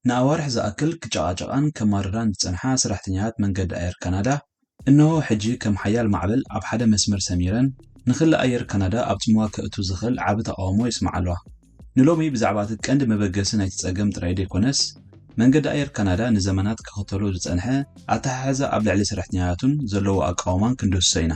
ንኣዋርሕ ዝኣክል ክጨቓጨቓን ከማርራን ዝጸንሓ ሰራሕተኛታት መንገዲ ኣየር ካናዳ፣ እነሆ ሕጂ ከም ሓያል ማዕበል ኣብ ሓደ መስመር ሰሚረን፣ ንክሊ ኣየር ካናዳ ኣብ ጽምዋ ከእቱ ዝኽእል ዓቢ ተቓውሞ የስምዓ'ለዋ። ንሎሚ ብዛዕባ'ቲ ቀንዲ መበገሲ ናይቲ ጸገም ጥራይ ዘይኮነስ፣ መንገዲ ኣየር ካናዳ ንዘመናት ክኽተሎ ዝጸንሐ ኣተሓሕዛ ኣብ ልዕሊ ሰራሕተኛታቱን ዘለዎ ኣቃውማን ክንድህስሶ ኢና።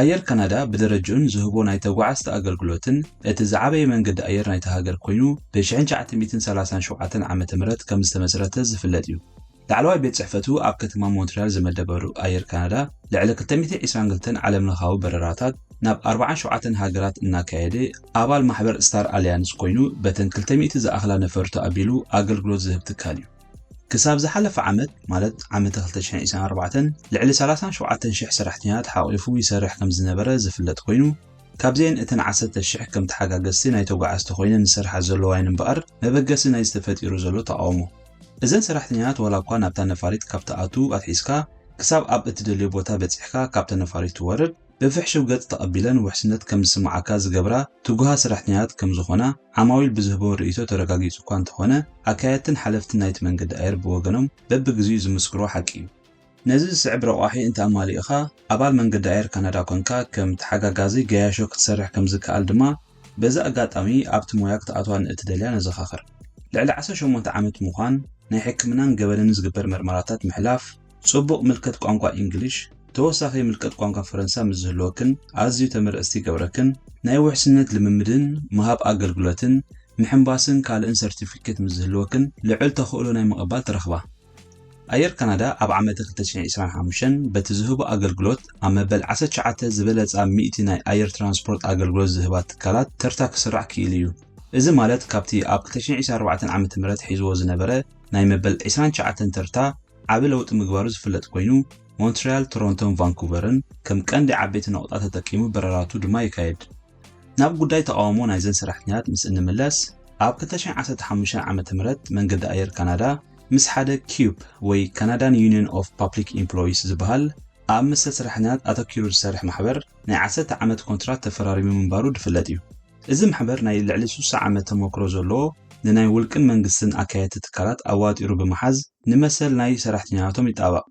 ኣየር ካናዳ ብደረጅኡን ዝህቦ ናይ ተጓዓዝቲ ኣገልግሎትን እቲ ዝዓበየ መንገዲ ኣየር ናይታ ሃገር ኮይኑ ብ ሽሕን ትሽዓተ ሚእትን ሰላሳን ሸውዓተን ዓመተ ምህረት ከም ዝተመስረተ ዝፍለጥ እዩ። ላዕለዋይ ቤት ጽሕፈቱ ኣብ ከተማ ሞንትርያል ዝመደበሩ ኣየር ካናዳ ልዕሊ ክልተ ሚእቲ ዒስራን ክልተን ዓለምለኻዊ በረራታት ናብ ኣርብዓን ሸውዓተን ሃገራት እናካየደ ኣባል ማሕበር ስታር ኣልያንስ ኮይኑ በተን ክልተ ሚእቲ ዝኣኽላ ነፈርቱ ኣቢሉ ኣገልግሎት ዝህብ ትካል እዩ። ክሳብ ዝሓለፈ ዓመት ማለት ዓመተ ክልተ ሽሕን ዒስራን ኣርባዕተን ልዕሊ ሰላሳን ሸውዓተን ሽሕ ሰራሕተኛታት ሓቝፉ ይሰርሕ ከም ዝነበረ ዝፍለጥ ኰይኑ፣ ካብዚኤን እተን ዓሰርተ ሽሕ ከም ተሓጋገዝቲ ናይ ተጓዓዝቲ ኰይነን ዝሰርሓ ዘለዋ'የን እምበኣር መበገሲ ናይዚ ተፈጢሩ ዘሎ ተቓውሞ። እዘን ሰራሕተኛታት ዋላ'ኳ ናብታ ነፋሪት ካብ ትኣትው ኣትሒዝካ ክሳብ ኣብ እትደልዮ ቦታ በጺሕካ ካብታ ነፋሪት ትወርድ፣ ብፍሕሹው ገጽ ተቐቢለን ውሕስነት ከም ዝስምዓካ ዝገብራ ትጉሃት ሰራሕተኛታት ከም ዝኾና ዓማዊል ብዝህብዎ ርእይቶ ተረጋጊጹ እኳ እንተኾነ፣ ኣካየድትን ሓለፍትን ናይቲ መንገዲ ኣየር ብወገኖም በብግዜኡ ዝምስክርዎ ሓቂ እዩ። ነዚ ዝስዕብ ረቋሒ እንተ ኣማሊእኻ፣ ኣባል መንገዲ ኣየር ካናዳ ኰንካ ከም ተሓጋጋዚ ገያሾ ክትሰርሕ ከም ዝከኣል ድማ በዚ ኣጋጣሚ ኣብቲ ሞያ ክትኣትዋ ንእትደልያ ነዘኻኽር። ልዕሊ ዓሰርተ ሸሞንተ ዓመት ምዃን፣ ናይ ሕክምናን ገበንን ዝግበር መርመራታት ምሕላፍ፣ ጽቡቕ ምልከት ቋንቋ ኢንግሊሽ፣ ተወሳኺ ምልከት ቋንቋ ፈረንሳ ምስ ዝህልወክን ኣዝዩ ተመረጽቲ ይገብረክን። ናይ ውሕስነት ልምምድን ምሃብ ኣገልግሎትን ምሕንባስን ካልእን ሰርቲፊኬት ምስ ዝህልወክን ልዑል ተኽእሎ ናይ ምቕባል ትረኽባ። ኣየር ካናዳ ኣብ ዓመተ ክልተ ሽሕን ዕስራን ሓሙሽተን በቲ ዝህቦ ኣገልግሎት ኣብ መበል ዓሰርተ ትሽዓተ ዝበለጻ ሚእቲ ናይ ኣየር ትራንስፖርት ኣገልግሎት ዝህባ ትካላት ተርታ ክስራዕ ክኢሉ እዩ። እዚ ማለት ካብቲ ኣብ ክልተ ሽሕን ዕስራን ኣርባዕተን ዓመተ ምህረት ሒዝዎ ዝነበረ ናይ መበል ዕስራን ትሽዓተን ተርታ፣ ዓቢ ለውጢ ምግባሩ ዝፍለጥ ኮይኑ፣ ሞንትሪያል፣ ቶሮንቶን ቫንኩቨርን ከም ቀንዲ ዓበይቲ ነቑጣ ተጠቂሙ በረራቱ ድማ የካይድ። ናብ ጉዳይ ተቓውሞ ናይዘን ሰራሕተኛታት ምስ እንምለስ፣ ኣብ ክልተ ሽሕን ዓሰርተ ሓሙሽተን ዓመተ ምህረት መንገዲ ኣየር ካናዳ ምስ ሓደ CUPE ወይ Canadian Union of Public Employees ዝበሃል ኣብ መሰል ሰራሕተኛታት ኣተኪሩ ዝሰርሕ ማሕበር ናይ ዓሰርተ ዓመት ኮንትራት ተፈራሪሙ ምንባሩ ድፍለጥ እዩ። እዚ ማሕበር ናይ ልዕሊ ስሳ ዓመት ተሞክሮ ዘለዎ ንናይ ውልቅን መንግስትን ኣካየድቲ ትካላት ኣዋጢሩ ብምሓዝ፣ ንመሰል ናይ ሰራሕተኛታቶም ይጣበቕ።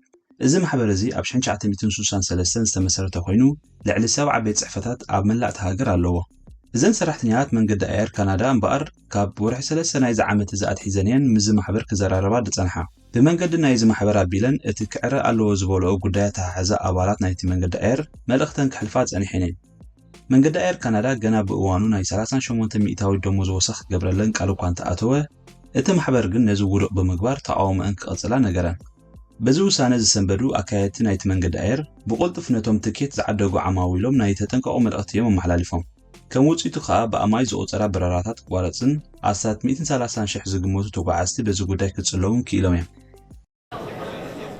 እዚ ማሕበር እዚ ኣብ ሽሕን ትሽዓተ ሚእትን ስሳን ሰለስተን ዝተመሰረተ ኮይኑ ልዕሊ ሰብዓ ቤት ጽሕፈታት ኣብ መላእ እታ ሃገር ኣለዎ። እዘን ሰራሕተኛታት መንገዲ ኣየር ካናዳ እምበኣር ካብ ወርሒ ሰለስተ ናይዚ ዓመት እዚ ኣትሒዘን እየን ምስዚ ማሕበር ክዘራረባ ዝጸንሓ። ብመንገዲ ናይዚ ማሕበር ኣቢለን እቲ ክዕረ ኣለዎ ዝበልኦ ጉዳይ ኣተሓሕዛ ኣባላት ናይቲ መንገዲ ኣየር መልእኽተን ከሕልፋ ጸኒሐን እየን። መንገዲ ኣየር ካናዳ ገና ብእዋኑ ናይ ሰላሳን ሸሞንተን ሚእታዊት ደሞዝ ወሰኽ ክገብረለን ቃል እኳ እንተኣተወ፣ እቲ ማሕበር ግን ነዚ ውዱቕ ብምግባር ተቓውሞኣን ክቕጽላ ነገረን። በዚ ውሳነ ዝሰንበዱ ኣካየድቲ ናይቲ መንገዲ ኣየር፣ ብቕልጡፍ ነቶም ትኬት ዝዓደጉ ዓማዊሎም ናይ ተጠንቀቑ መልእኽቲ እዮም ኣመሓላሊፎም። ከም ውጽኢቱ ከኣ ብኣማኢት ዝቑጸራ በረራታት ክቋረጽን ኣስታት ሚእትን ሰላሳን ሽሕ ዝግመቱ ተጓዓዝቲ በዚ ጉዳይ ክጽለዉን ክኢሎም እዮም።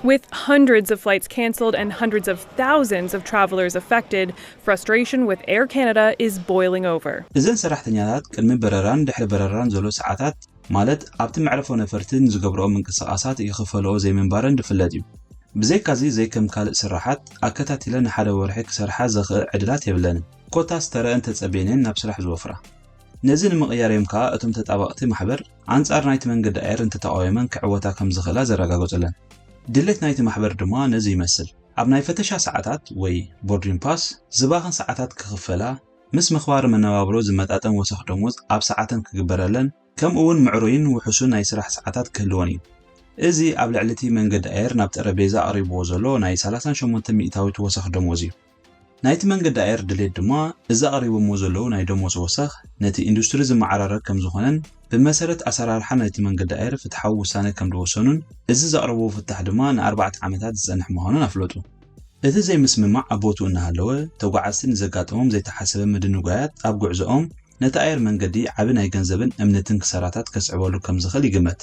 With hundreds of flights cancelled and hundreds of thousands of travelers affected, frustration with Air Canada is boiling over. እዘን ሰራሕተኛታት ቅድሚ በረራን ድሕሪ በረራን ዘሎ ሰዓታት ማለት ኣብቲ መዕረፎ ነፈርቲ ንዝገብርኦ ምንቅስቓሳት ይኽፈልኦ ዘይምንባረን ዝፍለጥ እዩ። ብዘይካዚ ዘይከም ካልእ ስራሓት ኣከታቲለን ንሓደ ወርሒ ክሰርሓ ዘኽእ ዕድላት የብለንን። ኮታስ ተረኣን ተጸብየንን ናብ ስራሕ ዝወፍራ። ነዚ ንምቕያር እዮም ከኣ እቶም ተጣበቕቲ ማሕበር ኣንጻር ናይቲ መንገዲ ኣየር እንተተቓዊመን ክዕወታ ከም ዝኽእላ ዘረጋገጹለን። ድሌት ናይቲ ማሕበር ድማ ነዚ ይመስል። ኣብ ናይ ፈተሻ ሰዓታት ወይ ቦርዲን ፓስ ዝባኽን ሰዓታት ክኽፈላ፣ ምስ ምኽባር መነባብሮ ዝመጣጠን ወሰኽ ደሞዝ ኣብ ሰዓተን ክግበረለን፣ ከምኡ'ውን ምዕሩይን ውሑሱን ናይ ስራሕ ሰዓታት ክህልወን እዩ። እዚ ኣብ ልዕሊ'ቲ መንገዲ ኣየር ናብ ጠረጴዛ ኣቕሪብዎ ዘሎ ናይ ሰላሳን ሸሞንተን ሚእታዊት ወሰኽ ደሞዝ እዩ። ናይቲ መንገዲ ኣየር ድሌት ድማ እዚ ኣቕሪቦምዎ ዘለዉ ናይ ደሞዝ ወሰኽ ነቲ ኢንዱስትሪ ዝመዓራረግ ከምዝኾነን ብመሰረት ኣሰራርሓ ናይቲ መንገዲ ኣየር ፍትሓዊ ውሳነ ከምድወሰኑን እዚ ዘቕረብዎ ፍታሕ ድማ ንኣርባዕተ ዓመታት ዝፀንሕ ምዃኑን ኣፍለጡ። እቲ ዘይምስምማዕ ኣብ ቦትኡ እናሃለወ ተጓዓዝቲ ንዘጋጠሞም ዘይተሓሰበ ምድንጓያት ኣብ ጉዕዘኦም ነቲ ኣየር መንገዲ ዓቢ ናይ ገንዘብን እምንትን ክሳራታት ከስዕበሉ ከምዝኽእል ይግመት።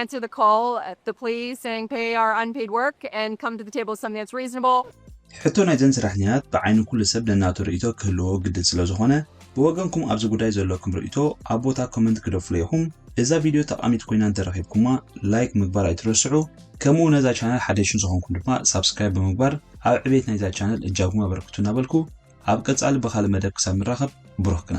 Answer the call, the plea saying pay our unpaid work and come to the table with something that's reasonable. ሕቶ ናይዘን ስራሕኛታት ብዓይኒ ኩሉ ሰብ ነናቱ ርእይቶ ክህልዎ ግድን ስለ ዝኾነ ብወገንኩም ኣብዚ ጉዳይ ዘለኩም ርእይቶ ኣብ ቦታ ኮመንት ክደፍሎ ኢኹም እዛ ቪድዮ ጠቃሚት ኮይና እንተረኺብኩማ ላይክ ምግባር ኣይትረስዑ ከምኡ ነዛ ቻነል ሓደሽን ዝኾንኩም ድማ ሳብስክራይብ ብምግባር ኣብ ዕቤት ናይዛ ቻነል እጃኩም ኣበርክቱ እናበልኩ ኣብ ቀጻሊ ብካልእ መደብ ክሳብ ንራኸብ ብሩኽ ቅነ